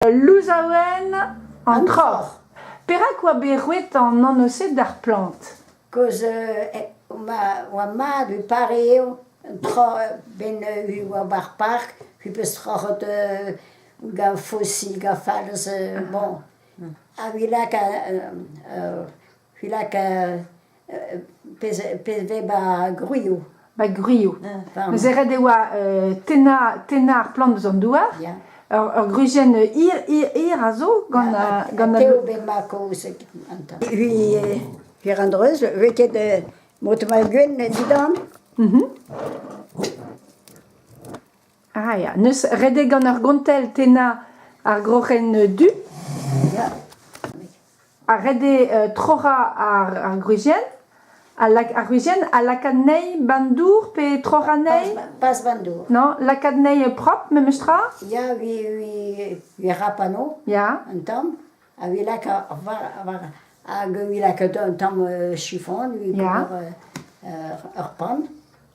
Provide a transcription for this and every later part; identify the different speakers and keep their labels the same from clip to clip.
Speaker 1: Ul louzaouenn, an troc'h. Perak oa bet roet an anv-se d'ar plant? Kozh
Speaker 2: oa mat e pare eo un tro ben eu oa war park pi peus troc'het gant fosil gant falz bon a-vilak Filak pezh vez ba gwrioù. Ba gwrioù.
Speaker 1: Neuze ret e oa tennañ ar plant eus an douar. Ur gwrizienn hir a zo gant an... Teo bet ma
Speaker 2: kaoz gantañ. Hir an dreuz, vez ket mod mal gwenn dindan?
Speaker 1: Ah ya, n'eus redek gant ur gontell tennañ ar groc'hen du. Ha redek euh, troc'hañ ar, ar gwrizienn. Ar gwrizienn a laka anezhi bandour pe troc'hañ anezhi Pas bandour.
Speaker 2: Non, laka anezhi
Speaker 1: propre, memes tra Ya, vi, vi,
Speaker 2: vi rapano Ya, un tamm,
Speaker 1: ha
Speaker 2: vi laka, hag vi laka un tamm euh, chiffon, vi Ja. pour euh, ur pan.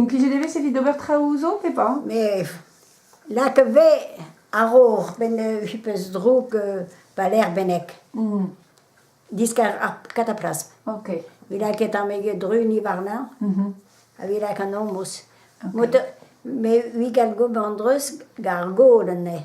Speaker 1: Implijet e vez evit ober traoù zo pe pas? Me
Speaker 2: lak vez a-raok ben eu peus droug pa lec'h bennek. Diskar ar kataplas. Ok. Vit
Speaker 1: lakaet ar mege
Speaker 2: druni warnañ. Ha vit lak an omos. Me 'ui gant go an dreuz gant ar gaod anezhe.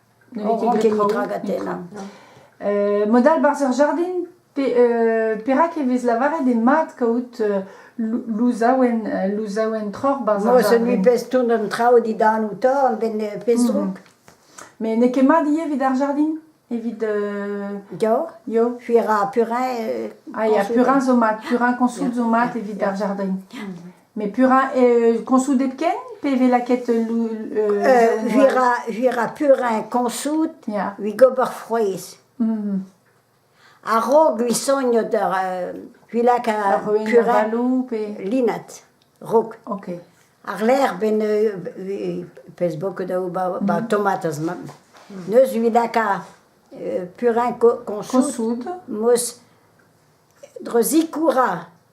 Speaker 2: traoù. Euh,
Speaker 1: mod all barzh ur jardin, euh, perak e vez lavaret eo mat kaout euh, louzaouenn euh, louzaouenn troc'h barzh ar jardin. Moi, celui pezh tourne
Speaker 2: an traoù didan ou torr, ben pezh mm Mais n'eo ket
Speaker 1: mat ivez evit ar jardin Evit... Euh... Yo.
Speaker 2: Yo. Puis il y a purin... Euh, ah, il y a purin
Speaker 1: zo mat, purin consoult zo mat evit ar jardin. Mm Mais pura, euh, consout hepken pe vez lakaet lou... Euh, euh, j'irai,
Speaker 2: j'irai pur un consout, yeah. ui gober
Speaker 1: frouezh.
Speaker 2: Mm. A-raok ui sogno d'ur euh, vilak a purin linat, rok. Ok.
Speaker 1: Ar lec'h
Speaker 2: ben euh, pez boko da ou ba, ba mm. tomatas mam. Neus vilak a euh, purin consout, consout. mos dre zikoura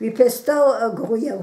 Speaker 2: Vi pesto ur grouiañ.